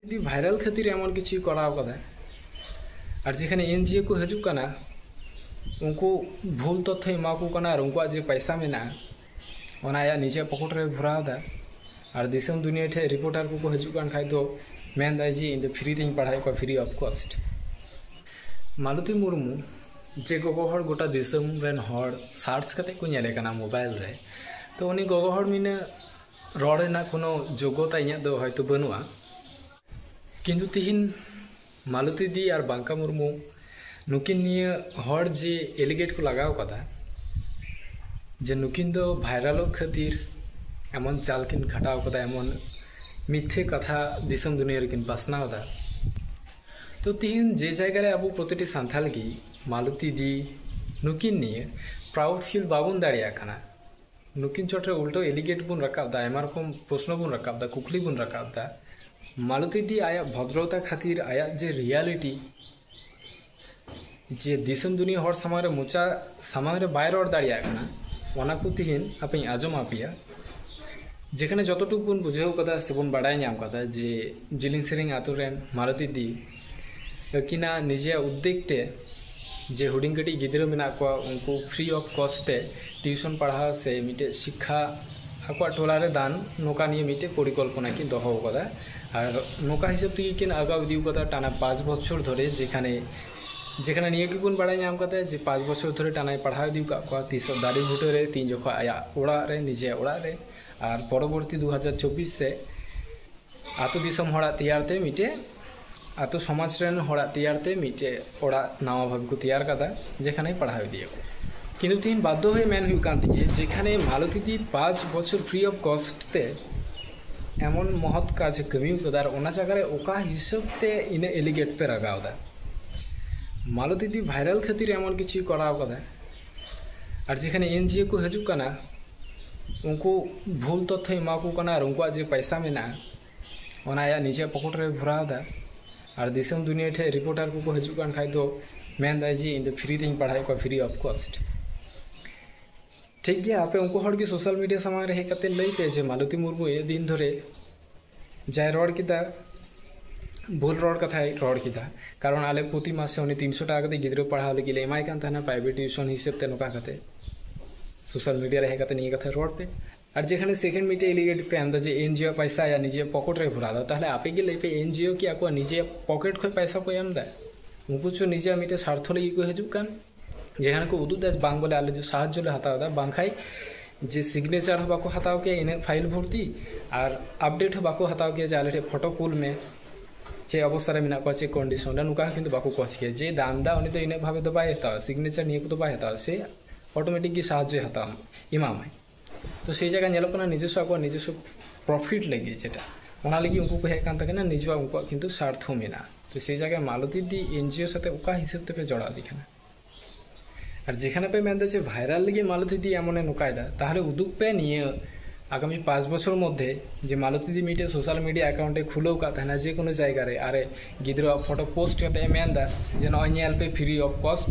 ᱡᱩᱫᱤ ᱵᱷᱟᱭᱨᱟᱞ ᱠᱷᱟᱹᱛᱤᱨ ᱮᱢᱚᱱ ᱠᱤᱪᱷᱩᱭ ᱠᱚᱨᱟᱣ ᱠᱟᱫᱟ ᱟᱨ ᱡᱮᱠᱷᱟᱱᱮ ᱮᱱᱡᱤᱳ ᱠᱚ ᱦᱤᱡᱩᱜ ᱠᱟᱱᱟ ᱩᱱᱠᱩ ᱵᱷᱩᱞ ᱛᱚᱛᱛᱷᱚ ᱮᱢᱟ ᱠᱚ ᱠᱟᱱᱟ ᱟᱨ ᱩᱱᱠᱩᱣᱟᱜ ᱡᱮ ᱯᱟᱭᱥᱟ ᱢᱮᱱᱟᱜᱼᱟ ᱚᱱᱟ ᱟᱭᱟᱜ ᱱᱤᱡᱮ ᱯᱚᱠᱮᱴ ᱨᱮ ᱵᱷᱚᱨᱟᱣ ᱮᱫᱟ ᱟᱨ ᱫᱤᱥᱚᱢ ᱫᱩᱱᱤᱭᱟᱹ ᱴᱷᱮᱡ ᱨᱤᱯᱳᱨᱴᱟᱨ ᱠᱚᱠᱚ ᱦᱤᱡᱩᱜ ᱠᱟᱱ ᱠᱷᱟᱡ ᱫᱚ ᱢᱮᱱᱫᱟᱭ ᱡᱮ ᱤᱧ ᱫᱚ ᱯᱷᱨᱤ ᱛᱮᱧ ᱯᱟᱲᱦᱟᱣᱮᱫ ᱠᱚᱣᱟ free of cost Malati Murmu ᱡᱮ ᱜᱚᱜᱚ ᱦᱚᱲ ᱜᱚᱴᱟ ᱫᱤᱥᱚᱢ ᱨᱮᱱ ᱦᱚᱲ ᱥᱟᱨᱪ ᱠᱟᱛᱮ ᱠᱚ ᱧᱮᱞᱮ ᱠᱟᱱᱟ ᱢᱳᱵᱟᱭᱤᱞ ᱨᱮ ᱛᱚ ᱩᱱᱤ ᱜᱚᱜᱚ ᱦᱚᱲ ᱢᱤᱱᱟᱹ ᱨᱚᱲ ᱨᱮᱱᱟᱜ ᱠᱳᱱᱳ ᱡᱳᱜᱽᱜᱚᱛᱟ ᱤᱧᱟᱹᱜ ᱫᱚ ᱦᱚᱭᱛᱳ ᱵᱟᱹᱱᱩᱜᱼᱟ ᱠᱤᱱᱛᱩ ᱛᱤᱦᱤᱧ ᱢᱟᱞᱚᱛᱤ ᱫᱤ ᱟᱨ ᱵᱟᱝᱠᱟ ᱢᱩᱨᱢᱩ ᱱᱩᱠᱤᱱ ᱱᱤᱭᱟᱹ ᱦᱚᱲ ᱡᱮ ᱮᱞᱤᱜᱮᱴ ᱠᱚ ᱞᱟᱜᱟᱣ ᱠᱟᱫᱟ ᱡᱮ ᱱᱩᱠᱤᱱ ᱫᱚ ᱵᱷᱟᱭᱨᱟᱞᱚᱜ ᱠᱷᱟᱹᱛᱤᱨ ᱮᱢᱚᱱ ᱪᱟᱞ ᱠᱤᱱ ᱠᱷᱟᱴᱟᱣ ᱠᱟᱫᱟ ᱮᱢᱚᱱ ᱢᱤᱛᱷᱮ ᱠᱟᱛᱷᱟ ᱫᱤᱥᱚᱢ ᱫᱩᱱᱤᱭᱟᱹ ᱨᱮᱠᱤᱱ ᱯᱟᱥᱱᱟᱣ ᱮᱫᱟ ᱛᱚ ᱛᱤᱦᱤᱧ ᱡᱮ ᱡᱟᱭᱜᱟ ᱨᱮ ᱟᱵᱚ ᱯᱨᱚᱛᱤᱴᱤ ᱥᱟᱱᱛᱟᱞ ᱜᱮ ᱢᱟᱞᱚᱛᱤ ᱫᱤ ᱱᱩᱠᱤᱱ ᱱᱤᱭᱟᱹ ᱯᱨᱟᱩᱰ ᱯᱷᱤᱞ ᱵᱟᱵᱚᱱ ᱫᱟᱲᱮᱭᱟᱜ ᱠᱟᱱᱟ ᱱᱩᱠᱤᱱ ᱪᱚᱴ ᱨᱮ ᱩᱞᱴᱟᱹᱣ ᱮᱞᱤᱜᱮᱴ ᱵᱚᱱ ᱨᱟᱠᱟᱵ ᱮᱫᱟ ᱟᱭᱢᱟ ᱨᱚᱠᱚᱢ ᱯᱨᱚᱥᱱᱚ ᱵᱚᱱ ᱨᱟᱠᱟᱵ ᱮᱫᱟ ᱠᱩᱠᱞᱤ ᱵᱚᱱ ᱨᱟᱠᱟᱵ ᱮᱫᱟ ᱢᱟᱞᱚᱛᱤ ᱫᱤ ᱟᱭᱟᱜ ᱵᱷᱚᱫᱨᱚᱛᱟ ᱠᱷᱟᱹᱛᱤᱨ ᱟᱭᱟᱜ ᱡᱮ ᱨᱤᱭᱟᱞᱤᱴᱤ ᱡᱮ ᱫᱤᱥᱚᱢ ᱫᱩᱱᱤᱭᱟᱹ ᱦᱚᱲ ᱥᱟᱢᱟᱝ ᱨᱮ ᱢᱚᱪᱟ ᱥᱟᱢᱟᱝ ᱨᱮ ᱵᱟᱭ ᱨᱚᱲ ᱫᱟᱲᱮᱭᱟᱜ ᱠᱟᱱᱟ ᱚᱱᱟ ᱠᱚ ᱛᱤᱦᱤᱧ ᱟᱯᱮᱧ ᱟᱸᱡᱚᱢ ᱟᱯᱮᱭᱟ ᱡᱮᱠᱷᱟᱱᱮ ᱡᱚᱛᱚᱴᱩᱠᱩ ᱵᱚᱱ ᱵᱩᱡᱷᱟᱹᱣ ᱠᱟᱫᱟ ᱥᱮᱵᱚᱱ ᱵᱟᱰᱟᱭ ᱧᱟᱢ ᱠᱟᱫᱟ ᱡᱮ ᱡᱤᱞᱤᱧ ᱥᱮᱨᱮᱧ ᱟᱛᱳ ᱨᱮᱱ ᱢᱟᱞᱚᱛᱤ ᱫᱤ ᱟᱹᱠᱤᱱᱟᱜ ᱱᱤᱡᱮᱭᱟᱜ ᱩᱫᱽᱫᱮᱜᱽ ᱛᱮ ᱡᱮ ᱦᱩᱰᱤᱧ ᱠᱟᱹᱴᱤᱡ ᱜᱤᱫᱽᱨᱟᱹ ᱢᱮᱱᱟᱜ ᱠᱚᱣᱟ ᱩᱱᱠᱩ ᱯᱷᱨᱤ ᱚᱯᱷ ᱠᱚᱥᱴ ᱛᱮ ᱴᱤᱭᱩᱥᱚᱱ ᱯᱟᱲᱦᱟᱣ ᱥᱮ ᱢᱤᱫᱴᱮᱡ ᱥᱤᱠᱠᱷᱟ ᱟᱠᱚᱣᱟᱜ ᱴᱚᱞᱟ ᱨᱮ ᱫᱟᱱ ᱱᱚᱝᱠᱟ ᱱᱤᱭᱮ ᱢᱤᱫᱴᱮᱡ ᱯᱚᱨᱤᱠᱚᱞᱯᱚᱱᱟ ᱠᱤᱱ ᱫᱚᱦᱚ ᱟᱠᱟᱫᱟ ᱟᱨ ᱱᱚᱝᱠᱟ ᱦᱤᱥᱟᱹᱵ ᱛᱮᱜᱮ ᱠᱤᱱ ᱟᱜᱟᱣ ᱤᱫᱤ ᱟᱠᱟᱫᱟ ᱴᱟᱱᱟ ᱯᱟᱸᱪ ᱵᱚᱪᱷᱚᱨ ᱫᱷᱚᱨᱮ ᱡᱮᱠᱷᱟᱱᱮ ᱡᱮᱠᱷᱟᱱᱮ ᱱᱤᱭᱟᱹ ᱜᱮᱵᱚᱱ ᱵᱟᱲᱟᱭ ᱧᱟᱢ ᱟᱠᱟᱫᱟ ᱡᱮ ᱯᱟᱸᱪ ᱵᱚᱪᱷᱚᱨ ᱫᱷᱚᱨᱮ ᱴᱟᱱᱟᱭ ᱯᱟᱲᱦᱟᱣ ᱤᱫᱤ ᱟᱠᱟᱫ ᱠᱚᱣᱟ ᱛᱤᱥᱚᱜ ᱫᱟᱨᱮ ᱵᱩᱴᱟᱹ ᱨᱮ ᱛᱤᱱ ᱡᱚᱠᱷᱚᱱ ᱟᱭᱟᱜ ᱚᱲᱟᱜ ᱨᱮ ᱱᱤᱡᱮᱭᱟᱜ ᱚᱲᱟᱜ ᱨᱮ ᱟᱨ ᱯᱚᱨᱚᱵᱚᱨᱛᱤ ᱫᱩ ᱦᱟᱡᱟᱨ ᱪᱚᱵᱵᱤᱥ ᱥᱮᱫ ᱟᱛᱳ ᱫᱤᱥᱚᱢ ᱦᱚᱲᱟᱜ ᱛᱮᱭᱟᱨ ᱛᱮ ᱢᱤᱫᱴᱮᱡ ᱟᱛᱳ ᱥᱚᱢᱟᱡᱽ ᱨᱮᱱ ᱦᱚᱲᱟᱜ ᱛᱮᱭᱟᱨ ᱛᱮ ᱢᱤᱫᱴᱮᱡ ᱚᱲᱟᱜ ᱱᱟᱣᱟ ᱵᱷᱟᱵᱮ ᱠᱚ ᱛᱮᱭᱟᱨ ᱠᱟᱫᱟ ᱡᱮᱠᱷᱟᱱᱮ ᱯᱟᱲᱦᱟᱣ ᱤᱫᱤᱭᱟ ᱠᱚ ᱠᱤᱱᱛᱩ ᱛᱤᱦᱤᱧ ᱵᱟᱫᱽᱫᱷᱚ ᱦᱚᱭ ᱢᱮᱱ ᱦᱩᱭᱩᱜ ᱠᱟᱱ ᱛᱤᱧᱟᱹ ᱡᱮᱠᱷᱟᱱᱮ ᱢᱟᱞᱚᱛᱤ ᱫᱤ ᱯᱟᱸᱪ ᱵᱚᱪᱷᱚᱨ ᱯᱷᱨᱤ ᱚᱯᱷ ᱠᱚᱥᱴ ᱛᱮ ᱮᱢᱚᱱ ᱢᱚᱦᱚᱛ ᱠᱟᱡᱽ ᱠᱟᱹᱢᱤ ᱠᱟᱫᱟ ᱟᱨ ᱚᱱᱟ ᱡᱟᱭᱜᱟ ᱨᱮ ᱚᱠᱟ ᱦᱤᱥᱟᱹᱵ ᱛᱮ ᱤᱱᱟᱹ ᱮᱞᱤᱜᱮᱴ ᱯᱮ ᱨᱟᱜᱟᱣ ᱫᱟ ᱢᱟᱞᱚᱛᱤ ᱫᱤ ᱵᱷᱟᱭᱨᱟᱞ ᱠᱷᱟᱹᱛᱤᱨ ᱮᱢᱚᱱ ᱠᱤᱪᱷᱩ ᱠᱚᱨᱟᱣ ᱠᱟᱫᱟ ᱟᱨ ᱡᱮᱠᱷᱟᱱᱮ ᱮᱱᱡᱤᱳ ᱠᱚ ᱦᱤᱡᱩᱜ ᱠᱟᱱᱟ ᱩᱱᱠᱩ ᱵᱷᱩᱞ ᱛᱚᱛᱛᱷᱚᱭ ᱮᱢᱟ ᱠᱚ ᱠᱟᱱᱟ ᱟᱨ ᱩᱱᱠᱩᱣᱟᱜ ᱡᱮ ᱯᱚᱭᱥᱟ ᱢᱮᱱᱟᱜᱼᱟ ᱚᱱᱟ ᱟᱭᱟᱜ ᱱᱤᱡᱮᱨᱟᱜ ᱯᱚᱠᱮᱴ ᱨᱮ ᱵᱷᱚᱨᱟᱣ ᱮᱫᱟ ᱟᱨ ᱫᱤᱥᱚᱢ ᱫᱩᱱᱤᱭᱟᱹ ᱴᱷᱮᱡ ᱨᱤᱯᱳᱨᱴᱟᱨ ᱠᱚᱠᱚ ᱦᱤᱡᱩᱜ ᱠᱟᱱ ᱠᱷᱟᱡ ᱫᱚ ᱢᱮᱱᱫᱟᱭ ᱡᱮ ᱤᱧ ᱫᱚ ᱯᱷᱨᱤ ᱛᱤᱧ ᱯᱟᱲᱦᱟᱣᱮᱫ ᱠᱚᱣᱟ ᱯᱷᱨᱤ ᱚᱯᱷ ᱠᱚᱥᱴ ᱴᱷᱤᱠ ᱜᱮᱭᱟ ᱟᱯᱮ ᱩᱱᱠᱩ ᱦᱚᱲ ᱜᱮ ᱥᱳᱥᱟᱞ ᱢᱤᱰᱤᱭᱟ ᱥᱟᱢᱟᱝ ᱨᱮ ᱦᱮᱡ ᱠᱟᱛᱮ ᱞᱟᱹᱭ ᱯᱮ ᱡᱮ ᱢᱟᱞᱚᱛᱤ ᱢᱩᱨᱢᱩ ᱮ ᱫᱤᱱ ᱫᱷᱚᱨᱮ ᱡᱟᱭ ᱨᱚᱲ ᱠᱮᱫᱟ ᱵᱷᱩᱞ ᱨᱚᱲ ᱠᱟᱛᱷᱟᱭ ᱨᱚᱲ ᱠᱮᱫᱟ ᱠᱟᱨᱚᱱ ᱟᱞᱮ ᱯᱨᱚᱛᱤ ᱢᱟᱥᱮ ᱩᱱᱤ ᱛᱤᱱᱥᱚ ᱴᱟᱠᱟ ᱠᱟᱛᱮ ᱜᱤᱫᱽᱨᱟᱹ ᱯᱟᱲᱦᱟᱣ ᱞᱟᱹᱜᱤᱫ ᱞᱮ ᱮᱢᱟᱭ ᱠᱟᱱ ᱛᱟᱦᱮᱱᱟ ᱯᱨᱟᱭᱵᱷᱮᱴ ᱴᱤᱭᱩᱥᱚᱱ ᱦᱤᱥᱟᱹᱵ ᱛᱮ ᱱᱚᱝᱠᱟ ᱠᱟᱛᱮ ᱥᱳᱥᱟᱞ ᱢᱤᱰᱤᱭᱟ ᱨᱮ ᱦᱮᱡ ᱠᱟᱛᱮ ᱱᱤᱭᱟᱹ ᱠᱟᱛᱷᱟ ᱨᱚᱲ ᱯᱮ ᱟᱨ ᱡᱮᱠᱷᱟᱱᱮ ᱥᱮᱠᱮᱱᱰ ᱢᱤᱫᱴᱮᱡ ᱮᱞᱤᱜᱮᱴ ᱯᱮ ᱮᱢ ᱫᱟ ᱡᱮ ᱮᱱᱡᱤᱳ ᱯᱟᱭᱥᱟ ᱟᱭᱟᱜ ᱱᱤᱡᱮ ᱯᱚᱠᱮᱴ ᱨᱮ ᱵᱷᱚᱨᱟᱣ ᱫᱟ ᱛᱟᱦᱞᱮ ᱟᱯᱮ ᱜᱮ ᱞᱟᱹᱭ ᱯᱮ ᱮᱱᱡᱤᱳ ᱠᱤ ᱟᱠᱚᱣᱟᱜ ᱱᱤᱡᱮ ᱯᱚᱠᱮᱴ ᱠᱷᱚᱱ ᱯᱟᱭᱥᱟ ᱠᱚ ᱮᱢ ᱫᱟ ᱩᱱᱠᱩ ᱪᱚ ᱱᱤᱡᱮ ᱢᱤᱫᱴᱮᱡ ᱥᱟᱨᱛᱷᱚ ᱞᱟᱹᱜᱤᱫ ᱠᱚ ᱦᱤᱡᱩᱜ ᱠᱟᱱ ᱡᱮᱠᱷᱟᱱᱮ ᱠᱚ ᱩᱫᱩᱜ ᱫᱟ ᱵᱟᱝ ᱵᱚᱞᱮ ᱟᱞᱮ ᱫᱚ ᱥᱟᱦᱟᱡᱽᱡᱚ ᱞᱮ ᱦᱟᱛᱟᱣ ᱫᱟ ᱵᱟᱝᱠᱷᱟᱡ ᱡᱮ ᱥᱤᱜᱽᱱᱮᱪᱟᱨ ᱦᱚᱸ ᱵᱟᱠᱚ ᱦᱟᱛᱟᱣ ᱠᱮᱭᱟ ᱤᱱᱟᱹᱜ ᱯᱷᱟᱭᱤᱞ ᱵᱷᱚᱨᱛᱤ ᱟᱨ ᱟᱯᱰᱮᱴ ᱦᱚᱸ ᱵᱟᱠᱚ ᱦᱟᱛᱟᱣ ᱠᱮᱭᱟ ᱡᱮ ᱟᱞᱮ ᱴᱷᱮᱡ ᱯᱷᱚᱴᱳ ᱠᱩᱞ ᱢᱮ ᱪᱮᱫ ᱚᱵᱚᱥᱛᱟ ᱨᱮ ᱢᱮᱱᱟᱜ ᱠᱚᱣᱟ ᱪᱮᱫ ᱠᱚᱱᱰᱤᱥᱚᱱ ᱨᱮ ᱱᱚᱝᱠᱟ ᱠᱤᱱᱛᱩ ᱵᱟᱠᱚ ᱠᱚᱪ ᱠᱮᱭᱟ ᱡᱮ ᱫᱟᱱ ᱫᱟ ᱩᱱᱤ ᱫᱚ ᱤᱱᱟᱹᱜ ᱵᱷᱟᱵᱮ ᱫᱚ ᱵᱟᱭ ᱦᱟᱛᱟᱣᱟ ᱥᱤᱜᱽᱱᱮᱪᱟᱨ ᱱᱤᱭᱟᱹ ᱠᱚᱫᱚ ᱵᱟᱭ ᱦᱟᱛᱟᱣᱟ ᱥᱮ ᱚᱴᱳᱢᱮᱴᱤᱠ ᱜᱮ ᱥᱟᱦᱟᱡᱽᱡᱚᱭ ᱦᱟᱛᱟᱣᱟ ᱮᱢᱟᱢᱟᱭ ᱛᱚ ᱥᱮ ᱡᱟᱭᱜᱟ ᱧᱮᱞᱚᱜ ᱠᱟᱱᱟ ᱱᱤᱡᱚᱥᱥᱚ ᱟᱠᱚᱣᱟᱜ ᱱᱤᱡᱚᱥᱥᱚ ᱯᱨᱚᱯᱷᱤᱴ ᱞᱟᱹᱜᱤᱫ ᱡᱮᱴᱟ ᱚᱱᱟ ᱞᱟᱹᱜᱤᱫ ᱩᱱᱠᱩ ᱠᱚ ᱦᱮᱡ ᱠᱟᱱ ᱛᱟᱠᱮᱱᱟ ᱱᱤᱡᱚᱣᱟᱜ ᱩᱱᱠᱩᱣᱟᱜ ᱠᱤᱱᱛᱩ ᱥᱟᱨᱛᱷᱚ ᱢᱮᱱᱟᱜᱼᱟ ᱛᱚ ᱥᱮ ᱡᱟᱭᱜᱟ ᱢᱟᱞᱚᱛᱤ ᱫᱤ ᱮᱱᱡᱤও ᱥᱟᱛᱮ ᱚᱠᱟ ᱦᱤᱥᱟᱹᱵ ᱛᱮᱯᱮ ᱡᱚᱲᱟᱣ ᱤᱫᱤ ᱠᱟᱱᱟ ᱟᱨ ᱡᱮᱠᱷᱟᱱᱮ ᱯᱮ ᱢᱮᱱᱫᱟ ᱡᱮ ᱵᱷᱟᱭᱨᱟᱞ ᱞᱟᱹᱜᱤᱫ ᱢᱟᱞᱚᱛᱤ ᱫᱤ ᱮᱢᱚᱱᱮ ᱱᱚᱠᱟᱭᱫᱟ ᱛᱟᱦᱞᱮ ᱩᱫᱩᱜ ᱯᱮ ᱱᱤᱭᱟᱹ ᱟᱜᱟᱢᱤ ᱯᱟᱸᱪ ᱵᱚᱪᱷᱚᱨ ᱢᱚᱫᱽᱫᱷᱮ ᱡᱮ ᱢᱟᱞᱚᱛᱤ ᱫᱤ ᱢᱤᱫᱴᱮᱡ ᱥᱳᱥᱟᱞ ᱢᱤᱰᱤᱭᱟ ᱮᱠᱟᱣᱩᱱᱴ ᱮ ᱠᱷᱩᱞᱟᱹᱣ ᱠᱟᱜ ᱛᱟᱦᱮᱱᱟ ᱡᱮ ᱠᱳᱱᱳ ᱡᱟᱭᱜᱟ ᱨᱮ ᱟᱨ ᱜᱤᱫᱽᱨᱟᱹᱣᱟᱜ ᱯᱷᱚᱴᱚ ᱯᱳᱥᱴ ᱠᱟᱛᱮ ᱢᱮᱱ ᱮᱫᱟ ᱡᱮ ᱱᱚᱜᱼᱚᱭ ᱧᱮᱞ ᱯᱮ ᱯᱷᱨᱤ ᱚᱯᱷ ᱠᱚᱥᱴ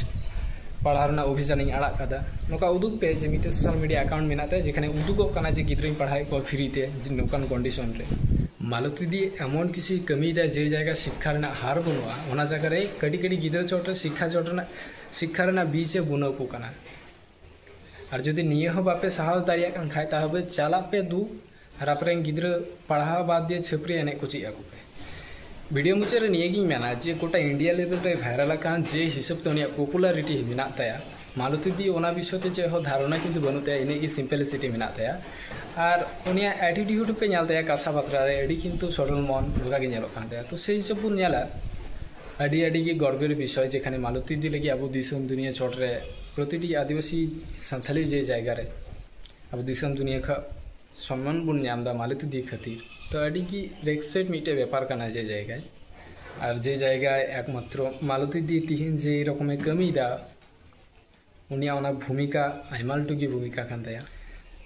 ᱯᱟᱲᱦᱟᱣ ᱨᱮᱱᱟᱜ ᱚᱵᱷᱤᱡᱟᱱ ᱤᱧ ᱟᱲᱟᱜ ᱠᱟᱫᱟ ᱱᱚᱝᱠᱟ ᱩᱫᱩᱜ ᱯᱮ ᱡᱮ ᱢᱤᱫᱴᱮᱱ ᱥᱳᱥᱟᱞ ᱢᱤᱰᱤᱭᱟ ᱟᱠᱟᱣᱩᱱᱴ ᱢᱮᱱᱟᱜ ᱛᱟᱭᱟ ᱡᱮᱠᱷᱟᱱᱮ ᱩᱫᱩᱜᱚᱜ ᱠᱟᱱᱟ ᱡᱮ ᱜᱤᱫᱽᱨᱟᱹᱧ ᱯᱟᱲᱦᱟᱣᱮᱫ ᱠᱚᱣᱟ ᱯᱷᱨᱤ ᱛᱮ ᱱᱚᱝᱠᱟᱱ ᱠᱚᱱᱰᱤᱥᱚᱱ ᱨᱮ ᱢᱟᱞᱚᱛᱤ ᱫᱤ ᱮᱢᱚᱱ ᱠᱤᱪᱷᱩᱭ ᱠᱟᱹᱢᱤᱭᱮᱫᱟ ᱡᱮ ᱡᱟᱭᱜᱟ ᱥᱤᱠᱠᱷᱟ ᱨᱮᱱᱟᱜ ᱦᱟᱨ ᱵᱟᱹᱱᱩᱜᱼᱟ ᱚᱱᱟ ᱡᱟᱭᱜᱟ ᱨᱮ ᱠᱟᱹᱴᱤᱡ ᱠᱟᱹᱴᱤᱡ ᱜᱤᱫᱽᱨᱟᱹ ᱪᱚᱴ ᱨᱮ ᱥᱤᱠᱠᱷᱟ ᱪᱚᱴ ᱨᱮᱱᱟᱜ ᱥᱤᱠᱠᱷᱟ ᱨᱮᱱᱟᱜ ᱵᱤᱡᱽ ᱮ ᱵᱩᱱᱟᱹᱣ ᱠᱚ ᱠᱟᱱᱟ ᱟᱨ ᱡᱩᱫᱤ ᱱᱤᱭᱟᱹ ᱦᱚᱸ ᱵᱟᱯᱮ ᱥᱟᱦᱟᱣ ᱫᱟᱲᱮᱭᱟᱜ ᱠᱟᱱ ᱠᱷᱟᱡ ᱛᱟᱦᱚᱞᱮ ᱪᱟᱞᱟᱜ ᱯᱮ ᱫᱩ ᱨᱟᱯ ᱨᱮᱱ ᱜᱤᱫᱽᱨᱟᱹ ᱯᱟᱲᱦᱟᱣ ᱵᱟᱫ ᱫᱤᱭᱮ ᱪᱷᱟᱹᱯᱨᱤ ᱮᱱᱮᱡ ᱠᱚ ᱪᱮᱫ ᱟᱠᱚ ᱯᱮ ᱵᱷᱤᱰᱤᱭᱳ ᱢᱩᱪᱟᱹᱫ ᱨᱮ ᱱᱤᱭᱟᱹ ᱜᱤᱧ ᱢᱮᱱᱟ ᱡᱮ ᱜᱚᱴᱟ ᱤᱱᱰᱤᱭᱟ ᱞᱮᱵᱮᱞ ᱨᱮ ᱵᱷᱟᱭᱨᱟᱞ ᱟᱠᱟᱱ ᱡᱮ ᱦᱤᱥᱟᱹᱵ ᱛᱮ ᱩᱱᱤᱭᱟᱜ ᱯᱚᱯᱩᱞᱟᱨᱤᱴᱤ ᱢᱮᱱᱟᱜ ᱛᱟᱭᱟ ᱢᱟᱞᱚᱛᱤ ᱫᱤ ᱚᱱᱟ ᱵᱤᱥᱚᱭ ᱛᱮ ᱪᱮᱫ ᱦᱚᱸ ᱫᱷᱟᱨᱚᱱᱟ ᱠᱤᱱᱛᱩ ᱵᱟᱹᱱᱩᱜ ᱛᱟᱭᱟ ᱤᱱᱟᱹᱜ ᱜᱮ ᱥᱤᱢᱯᱮᱞᱤᱥᱤᱴᱤ ᱢᱮᱱᱟᱜ ᱛᱟᱭᱟ ᱟᱨ ᱩᱱᱤᱭᱟᱜ ᱮᱴᱤᱴᱤᱭᱩᱰ ᱯᱮ ᱧᱮᱞ ᱛᱟᱭᱟ ᱠᱟᱛᱷᱟ ᱵᱟᱛᱨᱟ ᱨᱮ ᱟᱹᱰᱤ ᱠᱤᱱᱛᱩ ᱥᱚᱨᱚᱞ ᱢᱚᱱ ᱱᱚᱝᱠᱟ ᱜᱮ ᱧᱮᱞᱚᱜ ᱠᱟᱱ ᱛᱟᱭᱟ ᱛᱚ ᱥᱮᱭ ᱦᱤᱥᱟᱹᱵ ᱵᱚᱱ ᱧᱮᱞᱟ ᱟᱹᱰᱤ ᱟᱹᱰᱤ ᱜᱮ ᱜᱚᱨᱵᱮᱨ ᱵᱤᱥᱚᱭ ᱡᱮᱠᱷᱟᱱᱮ ᱢᱟᱞᱚᱛᱤ ᱫᱤ ᱞᱟᱹᱜᱤᱫ ᱟᱵᱚ ᱫᱤᱥᱚᱢ ᱫᱩᱱᱤᱭᱟᱹ ᱪᱚᱴ ᱨᱮ ᱯᱨᱚᱛᱤᱴᱤ ᱟᱹᱫᱤᱵᱟᱹᱥᱤ ᱥᱟᱱᱛᱷᱟᱞᱤ ᱡᱮ ᱡᱟᱭᱜᱟ ᱨᱮ ᱟᱵᱚ ᱫᱤᱥᱚᱢ ᱫᱩᱱᱤᱭᱟᱹ ᱠᱷᱚᱱ ᱥᱚᱱᱢᱟᱱ ᱵᱚᱱ ᱧᱟᱢ ᱮᱫᱟ ᱢᱟᱞᱚᱛᱤ ᱫᱤ ᱠᱷᱟᱹᱛᱤᱨ ᱛᱚ ᱟᱹᱰᱤ ᱜᱮ ᱨᱮᱥᱯᱮᱠᱴ ᱢᱤᱫᱴᱮᱡ ᱵᱮᱯᱟᱨ ᱠᱟᱱᱟ ᱡᱮ ᱡᱟᱭᱜᱟ ᱟᱨ ᱡᱮ ᱡᱟᱭᱜᱟ ᱮᱠᱢᱟᱛᱨᱚ ᱢᱟᱞᱚᱛᱤ ᱫᱤ ᱛᱤᱦᱤᱧ ᱡᱮ ᱨᱚᱠᱚᱢᱮ ᱠᱟᱹᱢᱤᱭᱮᱫᱟ ᱩᱱᱤᱭᱟᱜ ᱚᱱᱟ ᱵᱷᱩᱢᱤᱠᱟ ᱟᱭᱢᱟ ᱞᱟᱹᱴᱩ ᱜᱮ ᱵᱷᱩᱢᱤᱠᱟ ᱠᱟᱱ ᱛᱟᱭᱟ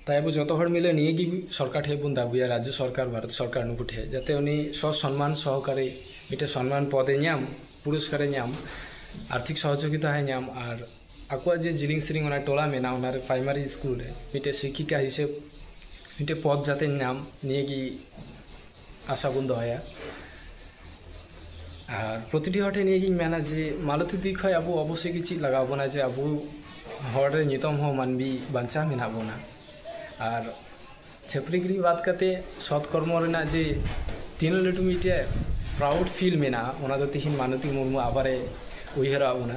ᱛᱟᱭ ᱟᱵᱚ ᱡᱚᱛᱚ ᱦᱚᱲ ᱢᱤᱞᱮ ᱱᱤᱭᱟᱹ ᱜᱮ ᱥᱚᱨᱠᱟᱨ ᱴᱷᱮᱡ ᱵᱚᱱ ᱫᱟᱹᱵᱤᱭᱟ ᱨᱟᱡᱽᱡᱚ ᱥᱚᱨᱠᱟᱨ ᱵᱷᱟᱨᱚᱛ ᱥᱚᱨᱠᱟᱨ ᱱᱩᱠᱩ ᱴᱷᱮᱡ ᱡᱟᱛᱮ ᱩᱱᱤ ᱥᱚ ᱥᱚᱱᱢᱟᱱ ᱥᱚᱦᱚᱠᱟᱨᱮ ᱢᱤᱫᱴᱮᱡ ᱥᱚᱱᱢᱟᱱ ᱯᱚᱫᱮ ᱧᱟᱢ ᱯᱩᱨᱚᱥᱠᱟᱨᱮ ᱧᱟᱢ ᱟᱨᱛᱷᱤᱠ ᱥᱚᱦᱚᱡᱳᱜᱤᱛᱟ ᱦᱚᱸᱭ ᱧᱟᱢ ᱟᱨ ᱟᱠᱚᱣᱟᱜ ᱡᱮ ᱡᱤᱞᱤᱝ ᱥᱮᱨᱮᱧ ᱚᱱᱟ ᱴᱚᱞᱟ ᱢᱮᱱᱟᱜᱼᱟ ᱚᱱᱟᱨᱮ ᱯᱨᱟᱭᱢᱟᱨᱤ ᱥᱠᱩᱞ ᱨᱮ ᱢᱤᱫᱴᱮᱡ ᱥᱤᱠᱠᱷᱤᱠᱟ ᱦᱤᱥᱟᱹᱵ ᱢᱤᱫᱴᱮᱡ ᱯᱚᱫ ᱡᱟᱛᱮ ᱧᱟᱢ ᱱᱤᱭᱟᱹ ᱜᱮ ᱟᱥᱟ ᱵᱚᱱ ᱫᱚᱦᱚᱭᱟ ᱟᱨ ᱯᱨᱚᱛᱤᱴᱤ ᱦᱚᱲ ᱴᱷᱮᱱ ᱱᱤᱭᱟᱹ ᱜᱤᱧ ᱢᱮᱱᱟ ᱡᱮ ᱢᱟᱞᱚᱛᱤ ᱫᱤ ᱠᱷᱚᱡ ᱟᱵᱚ ᱚᱵᱚᱥᱥᱳᱭ ᱜᱮ ᱪᱮᱫ ᱞᱟᱜᱟᱣ ᱵᱚᱱᱟ ᱡᱮ ᱟᱵᱚ ᱦᱚᱲ ᱨᱮ ᱱᱤᱛᱚᱝ ᱦᱚᱸ ᱢᱟᱹᱱᱢᱤ ᱵᱟᱧᱪᱟᱣ ᱢᱮᱱᱟᱜ ᱵᱚᱱᱟ ᱟᱨ ᱪᱷᱟᱹᱯᱨᱤ ᱜᱤᱨᱤ ᱵᱟᱫ ᱠᱟᱛᱮ ᱥᱚᱛ ᱠᱚᱨᱢᱚ ᱨᱮᱱᱟᱜ ᱡᱮ ᱛᱤᱱᱟᱹᱜ ᱞᱟᱹᱴᱩ ᱢᱤᱫᱴᱮᱡ ᱯᱨᱟᱣᱩᱰ ᱯᱷᱤᱞ ᱢᱮᱱᱟᱜᱼᱟ ᱚᱱᱟ ᱫᱚ ᱛᱤᱦᱤᱧ ᱢᱟᱱᱚᱛᱤ ᱢᱩᱨᱢᱩ ᱟᱵᱟᱨᱮ ᱩᱭᱦᱟᱹᱨᱟᱜ ᱵᱚᱱᱟ